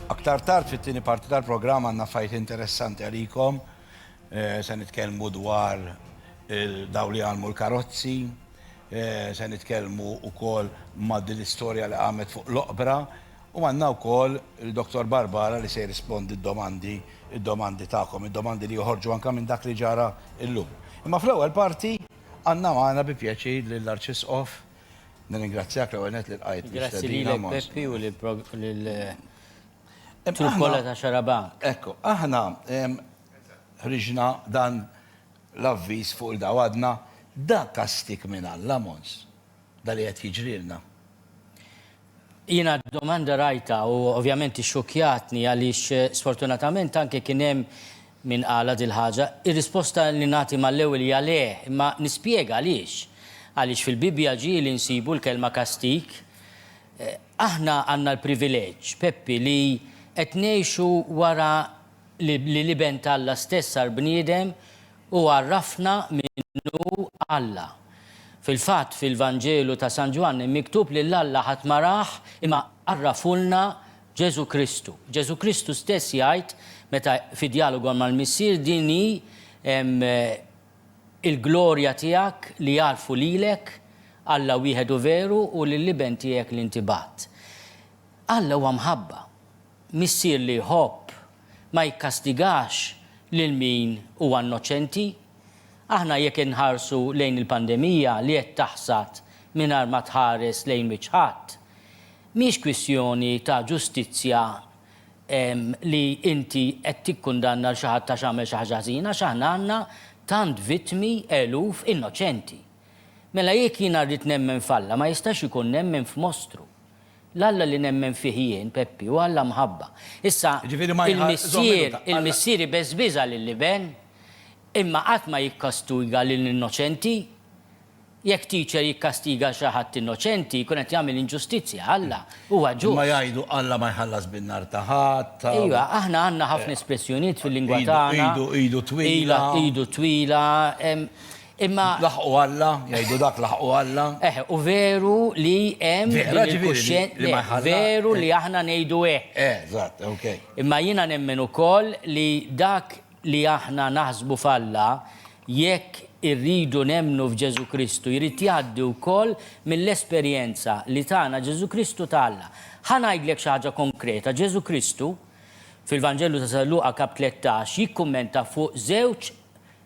Aktar tard fit-tieni parti tal-programm għandna fajt interessanti għalikom. Eh, se nitkellmu dwar eh, daw li għalmu l-karozzi, eh, se nitkellmu wkoll ma' din l-istorja li għamet fuq l-oqbra u għandna wkoll il-Dr. Barbara li se jirrispondi d-domandi, id-domandi tagħkom, id-domandi li joħorġu anke minn dak li ġara illum. Imma fl-ewwel parti għandna magħna bi pjaċir lill-Arċisqof Nirringrazzjak l-ewwel nett li lqajt l-istedina. Grazzi lilek Peppi u lill-trupp kollha ta' Xarabank. Ekku, aħna ħriġna dan l-avviż fuq il-dawl u għadna da kastig minn Alla, Mons. Dan li qed jiġrilna. Jiena d-domanda rajtha u ovvjament ixxukkjatni għaliex sfortunatament anke kien hemm min qalha dil-ħaġa. Ir-risposta li nagħti mal-ewwel hija le, imma nispjega għaliex. Għaliex fil-Bibbja ġieli nsibu l-kelma kastig. Aħna għandna l-privileġġ, Peppi, li qed ngħixu wara li l-Iben t'Alla stess sar bniedem Hu għarrafna min hu Alla. Fil-fatt, fil-Vanġelu ta' San Ġwanni miktub lil Alla ħadd ma rah imma għarrafulna Ġesù Kristu. Ġesù Kristu stess jgħid meta fi djalogu mal-Missier din hi l-glorja tiegħek li jagħrfu lilek, Alla wieħedu veru u lill-Iben tiegħek li inti bgħatt. Alla huwa mħabba. Missier li jħobb ma jikkastigax lil min huwa innoċenti. Aħna jekk inħarsu lejn il-pandemija li qed taħsad mingħajr ma tħares lejn wiċċ ħadd, mhix kwistjoni ta' ġustizzja li inti qed tikkundanna lil xi ħadd għax għamel xi ħaġa ħżiena għax aħna għandna tant vittmi, eluf, innoċenti. Mela jekk jiena rrid nemmen f'Alla ma jistax ikun nemmen f'mostru. L-Alla li nemmen fih jien, Peppi, hu Alla mħabba. Issa, il-missier, il-missier ibeżbiża lill-iben, imma qatt ma jikkastuiga lill-innoċenti. Jekk teacher jikkastiga xi ħadd innoċenti, jkun qed jagħmel inġustizzja. Alla huwa ġust. Imma jgħidu Alla ma jħallas bin-nar ta' ħadd. Ejwa, aħna għandna ħafna espressjonijiet fil-lingwa tagħna. Idu, idu, idu twila. Iva, idu twila. Imma. Laħqu Alla, jgħidu dak laħqu Alla. Eh, u veru li hemm din il-kuxjenza. Veru li aħna ngħidu hekk. Eh, eżatt, ok. Imma jiena nemmen ukoll li dak li aħna naħsbu f'Alla, jekk irridu nemmnu f'Ġesù Kristu, jrid jgħaddi wkoll mill-esperjenza li tana Ġesù Kristu ta' Alla. Ħa ngħidlek xi ħaġa konkreta, Ġesù Kristu, fil-Vanġelu ta' San Luqa kap. 13, jikkummenta fuq żewġ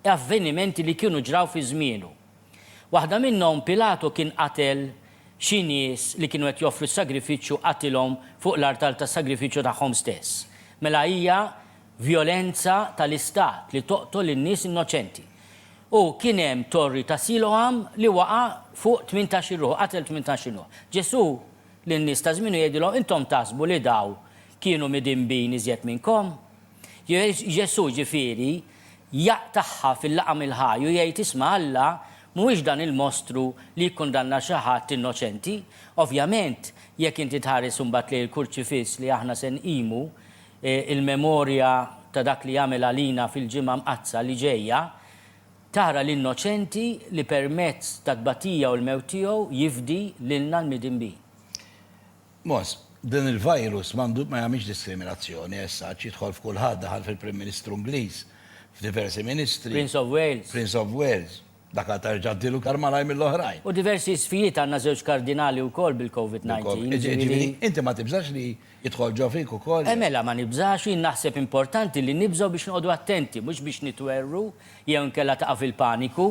avvenimenti li kienu ġraw fi żmienu. Waħda minnhom Pilatu kien qatel xi nies li kienu qed joffru s-sagrifiċċju qatilhom fuq l-artal tas-sagrifiċċju tagħhom stess. Mela hija vjolenza tal-istat li toqtol lil nies innoċenti. U kien hemm torri ta' Siloam li waqa' fuq tmintax il ruħ, qatel tmintax il ruħ. Ġesù lin-nies ta' żmienu jgħidilhom, intom taħsbu li daw kienu midinbin iżjed minnkom? Ġesù, ġifieri, jaqtagħha fil-laqam il-ħaj u jgħid, Isma', Alla mhuwiex dan il-mostru li jikkundanna xi ħadd innoċenti. Ovvjament, jekk inti tħares imbagħad lejn il-Kurċifiss li aħna se nqimu, il-memorja ta' dak li għamel għalina fil-Ġimgħa Mqaddsa li ġejja, tara l-innoċenti li permezz tat-tbatija u l-mewt tiegħu jifdi lilna l-midinbin. Mos, din il-virus m'għandu, ma jagħmilx diskriminazzjoni as such, jidħol f'kulħadd, daħal fil-Prim Ministru Ingliż, f'diversi Ministri. Prince of Wales. Prince of Wales. Dak għad tarġa' ddilu iktar malajr mill-oħrajn. U diversi sfijiet, għandna żewġ Kardinali wkoll bil-Covid 19, jiġifieri. Jiġifieri, inti ma tibżax li jidħol ġo fik ukoll? E mela, ma nibżax, jien naħseb importanti li nibżgħu biex noqogħdu attenti, mhux biex nitwerwru jew inkella taqa' fil-paniku.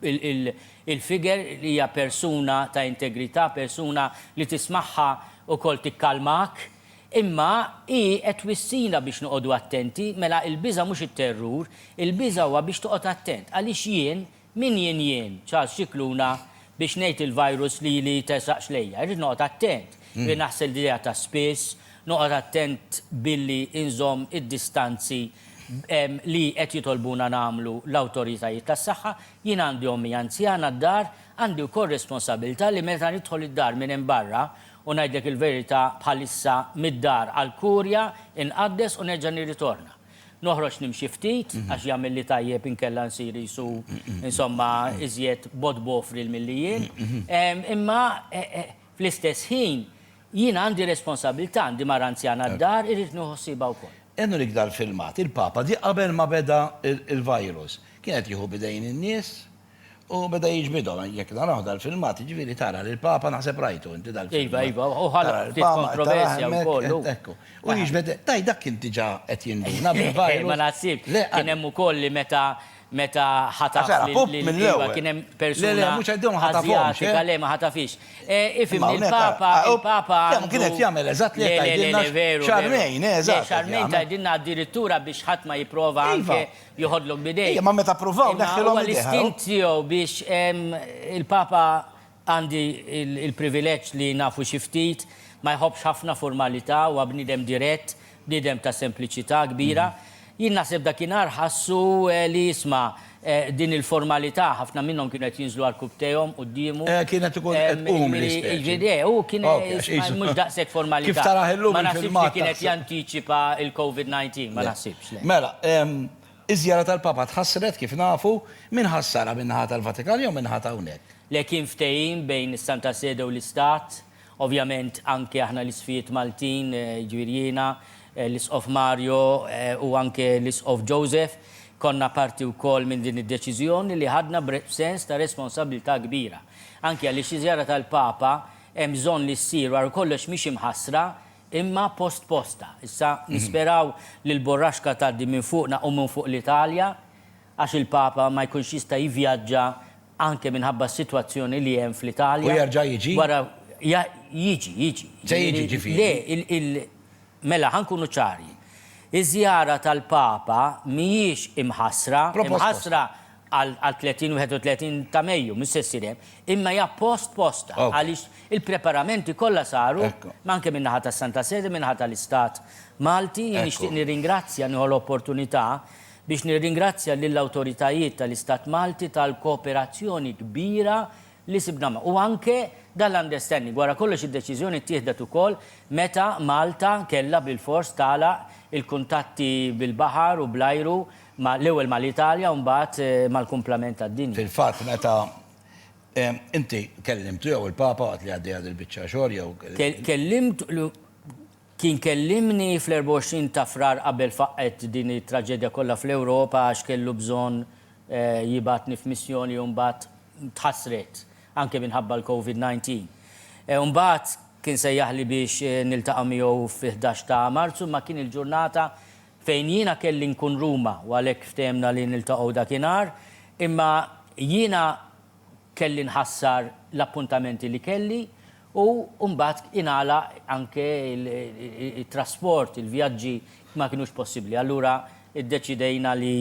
Il-figure hija persuna ta' integrità, persuna li tismagħha wkoll tikkalmak. Imma hi qed twissina biex noqogħdu attenti, mela il-biża' mhux it-terrur, il-biża' huwa biex toqgħod attent. Għaliex jien, min jien jien, Charles Scicluna, biex ngħid il-virus lili jtersaqx lejja. Irrid noqgħod attent, irrid naħsel idejha ta' spiss, Noqgħod attent billi nżomm id-distanzi li qed jitolbuna nagħmlu l-awtoritajiet tas-saħħa. Jien għandi ommi anzjana d-dar, għandi wkoll responsabilità li meta nidħol id-dar minn hemm barra, u ngħidlek il-verità bħalissa mid-dar għall-kurja inqaddes u nerġa' nirritorna. Noħroġ nimxi ftit għax jagħmilli tajjeb inkella nsir qisu insomma iżjed bogħod b'ofril milli jien. Imma fl-istess ħin, Jien għandi responsabbiltà, għandi mara anzjana d-dar, irrid nieħu ħsiebha wkoll. Enric Dal-filmat, il-Papa ġie qabel ma beda l-virus. Kien qed jieħu b'idejn in-nies u beda jiġbidhom. Jekk narawh dal-filmat, jiġifieri tara lill-Papa, naħseb rajtu inti dal-filmat. Iva, iva, u ħalaq ftit kontroversja wkoll hu. Ekku. U jiġbed, tajt dak kien diġà qed jinduna bil-virus. Le, ma naħsibx. Kien hemm ukoll li meta Meta ħataf lil Eva kien hemm persuna Asjatika, le ma ħatafhiex. Ifhimni, il-Papa, il-Papa għandu. Le, kien qed jagħmel eżatt li qed tgħidilna. Le, veru. X'armejn, eh, eżatt. Le, x'armejn tgħidilna addirittura biex ħadd ma jipprova anke joħodlok b'idejh. Imma meta ppruvaw neħħilhom idejh. L-istint tiegħu biex il-Papa Għandi l-privileġġ li nafu xi ftit. Ma jħobbx ħafna formalità, huwa bniedem dirett, bniedem ta' sempliċità kbira. Jien naħseb dakinhar ħassu li isma' din il-formalità, ħafna minnhom kienu qed jinżlu għarkubb tejhom quddiemu. Eh, kienet ikun qed tqum l-ispeċi. Eh, hu kien mhux daqshekk formalità. Kif tarah illum il-filmat. Ma naħsibx li kien qed jantiċipa l-COVID-19, ma naħsibx. Mela, iż-żjara tal-Papa tħassret kif nafu, min ħassarha min-naħa tal-Vatikan jew min-naħa ta' hawnhekk? Le kien ftehim bejn is-Santa Sede u l-Istat. Ovvjament anke aħna l-Isqfijiet Maltin, jiġifieri jiena, l-Isqof Mario u anke l-Isqof Joseph, konna parti wkoll minn din id-deċiżjoni li ħadna b'sens ta' responsabbiltà kbira. Anke għaliex iż-żjara tal-Papa hemm bżonn li ssir wara kollox mhix imħassra imma postposta. Issa nisperaw li l-burraxka tgħaddi minn fuqna u minn fuq l-Italja għax il-Papa ma jkunx jista' jivvjaġġa anke minħabba s-sitwazzjoni li hemm fl-Italja. U jerġa' jiġi? Wara, ja, jiġi, jiġi. Se jiġi, ġifieri? Le, il, il, mela, ħa nkunu ċari. Iż-żjara tal-Papa mhijiex imħassra, Propost, imħassra għal, għal 30 u 31 ta' Mejju, mhux se ssir hemm, imma hija post posta, Ok. għaliex il-preparamenti kollha saru, Ekku. anke min-naħa tas-Santa Sede, min-naħa tal-Istat Malti, jien Ekku. nixtieq nirringrazzja, nieħu l-opportunità, Biex nirringrazzja lill-awtoritajiet tal-Istat Malti tal-kooperazzjoni kbira li sibna magħhom. U anke dan l-understanding. Wara kollox id-deċiżjoni ttieħdet ukoll meta Malta kellha bilfors tagħlaq il-kuntatti bil-baħar u bl-ajru ma' l-ewwel ma' l-Italja u mbagħad mal-kumplament tad-dinja. Fil-fatt meta inti kellimtu jew il-Papa waqt li għaddejja dil-biċċa xogħol jew. Kellimt. Kien kellimni fl-24 ta' Frar qabel faqqgħet din it-traġedja kollha fl-Ewropa għax kellu bżonn jibgħatni f'missjoni u mbagħad tħassret anke minħabba l-Covid 19. Mbagħad kien sejjaħli biex niltaqa' miegħu fi ħdax ta' Marzu imma kien il-ġurnata fejn jiena kelli nkun Ruma u għalhekk ftehemna li niltaqgħu dakinhar imma jiena kelli nħassar l-appuntamenti li kelli u mbagħad ingħalaq anke t-trasport, il-vjaġġi ma kinux possibbli. Allura ddeċidejna li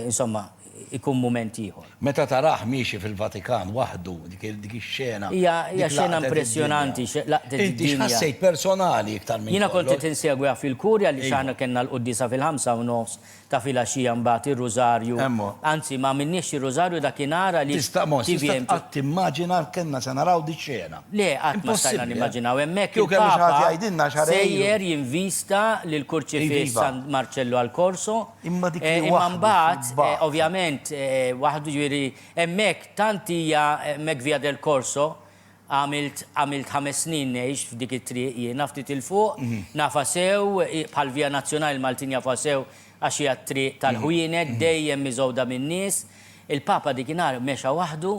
insomma jkun mument ieħor. Meta tarah miexi fil-Vatikan waħdu, dik ix-xena, dik laqtet id-dinja. Hija xena impressjonanti, laqtet id-dinja. Inti x'ħassejt personali iktar minn kollox? Jiena kont qed insegwiha fil-Kurja għaliex aħna kellna l-quddiesa fil-ħamsa u nofs ta' filgħaxija mbagħad ir-Rużarju. Hemm hu. Anzi, ma għamilniex ir-Rużarju dakinhar għaliex. Tista' mhux, tista' qatt timmaġina kellna se naraw dix-xena. Le, qatt ma stajna nimmaġinaw. Hemmhekk il-Papa sejjer jinvista lill-Kurċifiss San Marċellu al Corso. Imma dik hi waħda. Imma mbagħad, ovvjament, waħdu, jiġifieri hemmhekk tant hija hemmhekk Via del Corso, Għamilt, għamilt ħames snin ngħix f'dik it-triq jiena, ftit 'il fuq, nafha sew, hi bħall-Via Nazionale l-Maltin jafuha sew għax hija t-triq tal-ħwienet, dejjem miżgħuda min-nies. Il-Papa dik in-nhar mexa waħdu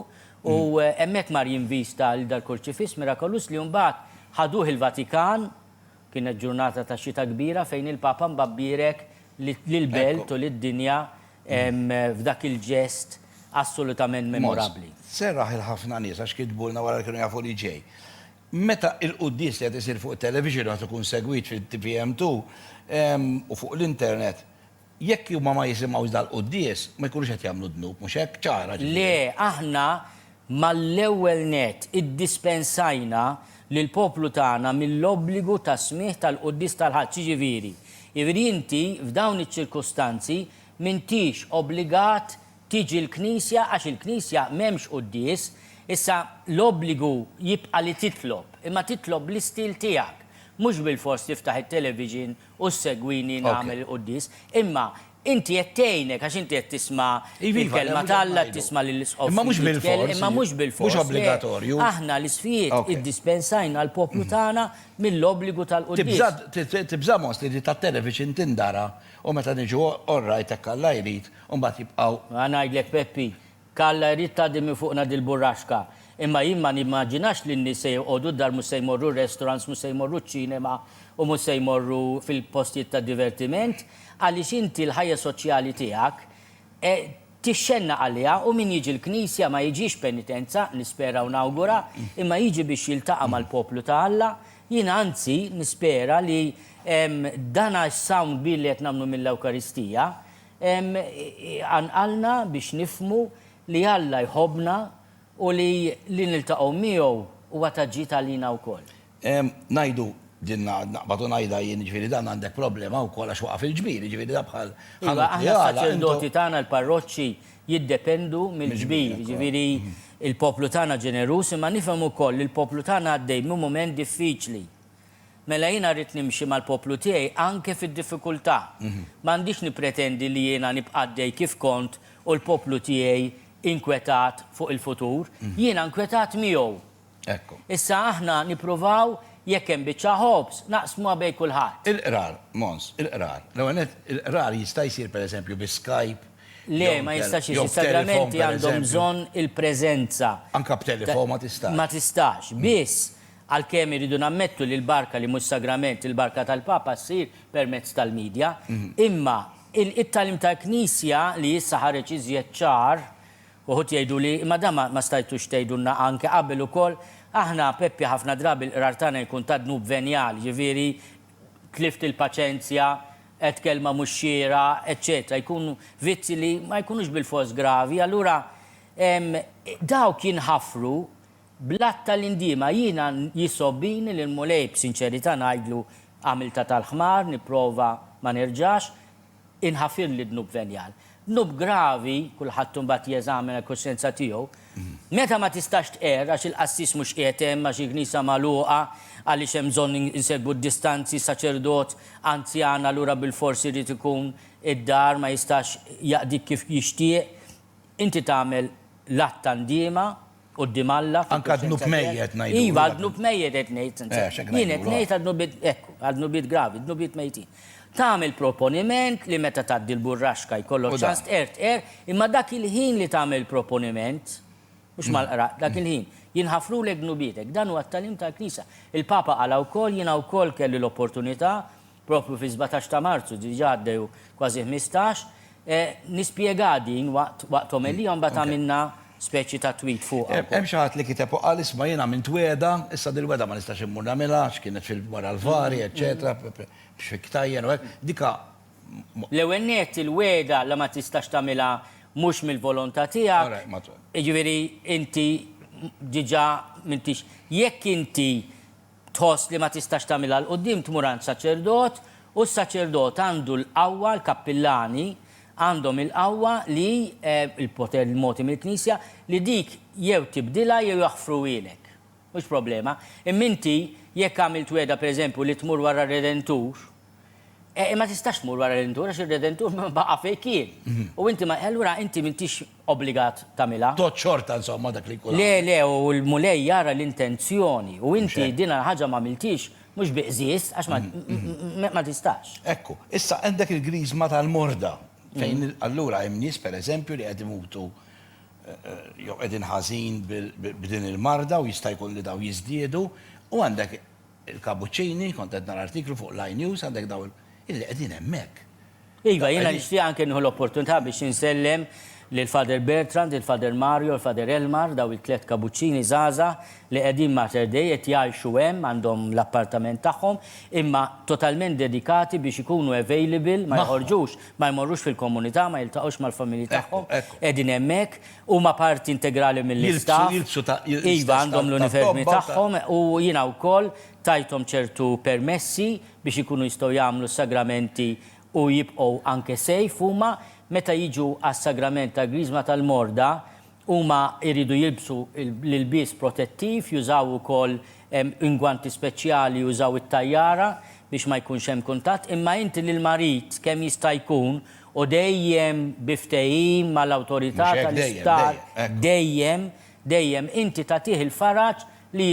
u hemmhekk mar jinvista lil dal-Kurċifiss mirakolus li mbagħad ħaduh il-Vatikan Kienet ġurnata ta' xita kbira fejn il-Papa mbagħad bierek lill-belt u lid-dinja f'dak il-ġest assolutament memorabbli. Mod, serraħ 'il ħafna nies għax kitbulna wara li kienu jafu li ġej. Meta il-quddies qiegħed isir fuq it-television u qed ikun segwit fit-TVM2 u fuq l-internet, Jekk huma ma jisimgħux dal-quddies, ma jkunux qed jagħmlu dnub, mhux hekk? Ċara, ġifieri. Le, aħna mal-ewwel nett iddispensajna lill-poplu tagħna mill-obbligu tas-smigħ tal-quddies tal-Ħadd, jiġifieri, jiġifieri inti f'dawn iċ-ċirkustanzi m'intix obbligat tiġi l-knisja għax il-knisja m'hemmx quddies, issa l-obbligu jibqa' li titlob, imma titlob bl-istil tiegħek, mhux bilfors tiftaħ it-television u ssegwini nagħmel il-quddies. Imma inti qed tgħinek għax inti qed tisma' l-kelma t'Alla, qed tisma' lill-isqof. Imma mhux bil-fors. Imma mhux bil-fors. Mhux obbligatorju. Aħna l-isqfijiet iddispensajna l-poplu tagħna mill-obbligu tal-quddies. Tibża', tibża' most li di tat-telef biex inti ndara u meta niġu all right hekk Alla jrid u mbagħad jibqgħu. Ngħidlek Peppi, Kalla jrid tgħaddi minn fuqna dil-burraxka. Imma jien ma nimmaġinax li n-nies se joqogħdu d-dar mhux se jmorru r-restaurants mhux se jmorru ċ-ċinema u mhux se jmorru fil-postijiet ta' divertiment għaliex inti l-ħajja soċjali tiegħek tixxennaq għaliha u min jiġi l-knisja ma jiġix penitenza, nispera u nawgura, imma jiġi biex jiltaqa' mal-poplu ta' Alla. Jien anzi nispera li dana s-sawm kbir li qed nagħmlu mill-Ewkaristija, Iqanqalna biex nifhmu li Alla jħobbna u li li niltaqgħu miegħu huwa ta' ġid għalina wkoll. Ngħidu, din naqbad u ngħidha jien, jiġifieri dan għandek problema wkoll għax waqa' fil-ġbir, jiġifieri dan bħal ħanut li għalaq. Iva, aħna s-saċerdoti tagħna l-parroċċi jiddependu mill-ġbir, jiġifieri l-poplu tagħna ġeneruż, imma nifhem ukoll li l-poplu tagħna għaddej minn mument diffiċli. Mela jiena rrid nimxi mal-poplu tiegħi anke fid-diffikultà. M'għandix nippretendi li jiena nibqa' għaddej kif kont u l-poplu tiegħi inkwetat fuq il-futur. Jiena nkwetat miegħu. Issa aħna nippruvaw jekk hemm biċċa ħobż, naqsmuha bejn kulħadd. Il-qrar, Mons, il-qrar. L-ewwel nett, il-qrar jista' jsir per eżempju bi Skype, Le, ma jistax isir. Is-sagramenti għandhom bżonn il-preżenza. Anke b'telefon ma tistax. Ma tistax. Biss, Għalkemm irridu nammettu li l-barka li mhux sagrament, il-barka tal-Papa ssir permezz tal-media, imma it-tagħlim tal-Knisja li issa ħareġ iżjed ċar, uħud jgħidu li imma dan ma stajtux tgħidulna anke qabel ukoll, aħna Peppi ħafna drabi l-qrar tagħna jkun ta' dnub venjal, jiġifieri tlift il-paċenzja, għedt kelma mhux xierqa, eċċetera jkunu vizzji li ma jkunux bilfors gravi, allura dawk jinħafru Bl-għadd ta' l-indiema jiena jisgħob bini lill-Mulej b'sinċerità ngħidlu għamiltha tal-ħmar nipprova ma nerġax inħafirli dnub venjal. Dnub gravi, kulħadd imbagħad jeżamina l-kuxjenza tiegħu. Meta ma tistax tqerr għax il-qassis mhux qiegħed hemm, għax il-knisa magħluqa, għaliex hemm bżonn insegwu d-distanzi, saċerdot anzjan allura bilfors irid ikun id-dar ma jistax jaqdik kif jixtieq, inti tagħmel l-għadd ta' ndiema. Quddiem Alla, fil-kuxjenza tiegħek. Iva, għad-dnub mejjet qed ngħid, sinċerament. Jien qed ngħid għad-dnubiet, ekku, għad-dnubiet gravi, dnubiet mejtin. Tagħmel proponiment li meta tgħaddi l-burraxka jkollok ċans tqerr, tqerr, imma dak il-ħin li tagħmel proponiment, mhux mal-qraq, dak il-ħin, jinħafrulek dnubietek. Dan huwa t-tagħlim tal-Knisja. Il-Papa qalha wkoll, jiena wkoll kelli l-opportunità propju fis-sbatax ta' Marzu, diġà għaddew kważi ħmistax, nispjegha din waqt waqt omelija u mbagħad għamilna speċi ta' tweet fuqha wkoll. Hemm xi ħadd li kiteb u qal isma' jien għamilt wegħda, issa dil-wegħda ma nistax immur nagħmilha għax kienet fil wara l-vari eċċetera, biex fi ktajjen u hekk, dika ma. L-ewwel nett il-wegħda li ma tistax tagħmilha mhux mill-volontà tiegħek, jiġifieri inti diġà m'intix, jekk inti tħoss li ma tistax tagħmilha 'l quddiem tmur għand saċerdot u s-saċerdot għandu l-qawwa, l-kappillani għandhom il-qawwa li, il-poter li mogħti mill-Knisja, li dik jew tibdilha jew jaħfruhielek. Mhux problema. Imma inti jekk għamilt wegħda pereżempju li tmur wara r-Redentur, Eh, imma tistax tmur wara l-indur għax ir-Redentur ma baqa' fejn kien. Mhm. U inti ma allura inti m'intix obbligat tagħmilha. Tot xorta insomma dak li jkun. Le, le, u l-Mulej jara l-intenzjoni u inti din ħaġa ma miltix mhux biqżież għax ma mhm, mhm. tistax. Ekku, issa għandek il-griżma tal-morda fejn allura hemm nies pereżempju li qed imutu eh, eh, jew qegħdin ħażin b'din il-marda u jista' jkun li daw jiżdiedu u għandek Il-kabuċċini, kont qed nara artiklu fuq l-I News, għandek dawn illi qegħdin hemmhekk. Iva, jiena nixtieq anke nieħu l-opportunità biex insellem lil Father Bertrand, lil Father Mario, lil Father Elmar, dawn it-tliet kabuċċini żgħażagħ li qegħdin Mater Dei, qed jgħixu hemm, għandhom l-appartament tagħhom, imma totalment dedikati biex ikunu available, ma joħorġux, ma jmorrux fil-komunità, ma jiltaqgħux mal-familji tagħhom, qegħdin hemmhekk, Huma parti integrali mill-istaff. Jilbsu, jilbsu. Iva, għandhom l-unifermi tagħhom u jiena wkoll tajthom ċertu permessi biex ikunu jistgħu jagħmlu s-sagramenti u jibqgħu anke safe huma. Meta jiġu għas-sagrament tal-Griżma tal-Morda, huma jridu jilbsu l-ilbies protettiv, jużaw ukoll ingwanti speċjali, jużaw it-tajjara biex ma jkunx hemm kuntatt. Imma inti lill-marid kemm jista' jkun u dejjem bi ftehim mal-awtorità tal-isptar, dejjem, dejjem, inti tagħtih il-faraġ li